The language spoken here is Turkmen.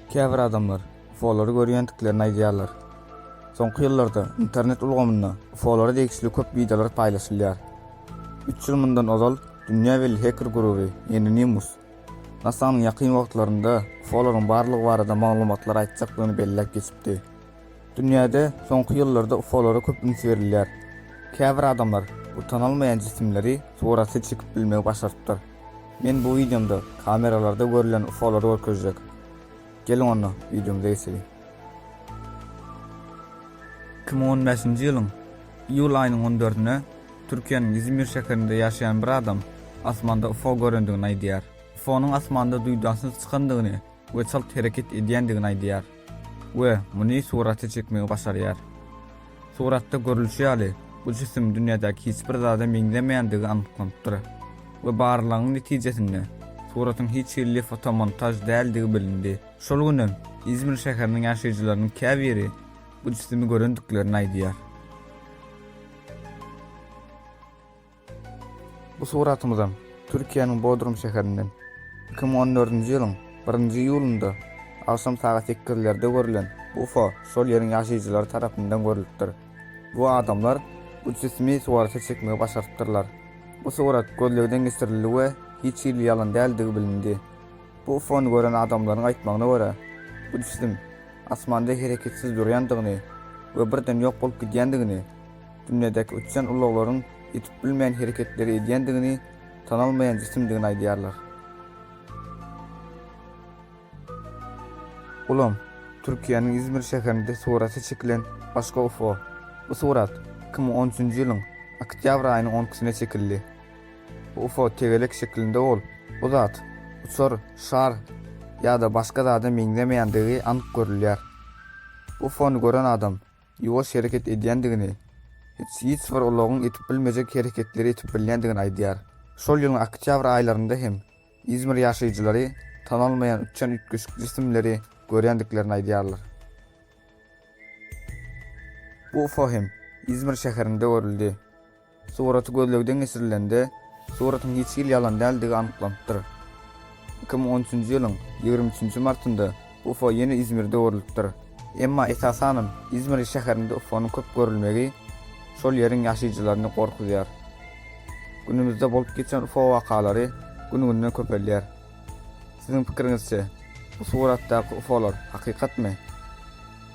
Käbir adamlar UFO-lary görýändiklerini aýdýarlar. Soňky ýyllarda internet ulgamynda UFO-lara degişli köp wideolar paýlaşylýar. Üç ýyl mundan ozal dünýä belli heker guruby Enonimus NASA-nyň ýakyn wagtlarynda UFO-laryň barlygy barada maglumatlar aýtjakdygyny belläp geçipdi. Dünýäde soňky ýyllarda UFO-lara köp üns berilýär. Käbir adamlar bu tanalmaýan jisimleri surata çekip bilmegi başarypdyr. Men bu wideomda kameralarda görlen UFO-lary görkezjek. Geliň onda, wideomyza geçeliň. Iki müň on bäşinji ýylyň iýul aýynyň on dördünde Türkiýäniň Izmir şäherinde ýaşaýan bir adam asmanda UFO görendigini aýdýar. UFO-nyň asmanda duýdansyz çykandygyny we çalt hereket edýändigini aýdýar we muny surata çekmegi başarýar. Suratda görlüşi ýaly, bu jisim dünýädäki hiç bir zada meňzemeýändigi anyklanypdyr we barlagyň netijesinde suratyň hiç hili fotomontaž däldigi bilindi. Şol günem Izmir şäheriniň ýaşaýjylarynyň käbiri bu jisimi görendiklerini aýdýar. Bu suratymyzam Türkiýäniň Bodrum şäherinden iki müň on dördünji ýylyň birinji iýulynda agşam sagat sekizlerde görülen ufo şol ýeriň ýaşaýjylary tarapyndan görlüpdir. Bu adamlar bu jisimi surata çekmegi başarypdyrlar. Bu surat gözlegden geçirildi we hiç hili ýalan däldigi bilindi. Bu UFO-ny gören adamlaryň aýtmagyna görä, bu jisimiň asmanda hereketsiz durýandygyny we birden ýok bolup gidýändigini, dünýädäki uçýan ulaglaryň edip bilmeýän hereketleri edýändigini, tanalmaýan jisimdigini aýdýarlar. Ulam, Türkiýäniň Izmir şäherinde suraty çekilen başga UFO. Bu surat iki müň on üçünji ýylyň oktýabr aýynyň on ikisinde çekildi. UFO tegelek şeklinde bolup, bu zat uçar, şar ýa-da başga zada meňzemeýändigi anyk görülýär. UFO-ny gören adam ýuwaş hereket edýändigini, hiç bir ulagyň edip bilmejek hereketleri edip bilýändigini aýdýar. Şol ýylyň oktýabr aýlarynda hem Izmir ýaşaýjylary tanalmaýan uçýan üýtgeşik jisimleri görýändiklerini aýdýarlar. Bu UFO hem Izmir şäherinde görüldi. Suraty gözlegden geçirilende, suratyň hiç hili ýalan däldigi anyklanypdyr. Iki müň on üçünji ýylyň ýigrimi üçünji martynda UFO ýene Izmirde görlüpdir. Emma esasanam Izmir şäherinde UFO-nyň köp görülmegi şol ýeriň ýaşaýjylaryny gorkuzýar. Günümizde bolup geçen UFO wakalary gün-günden köpelýär. Siziň pikiriňizçe, bu suratdaky UFO-lar hakykatmy?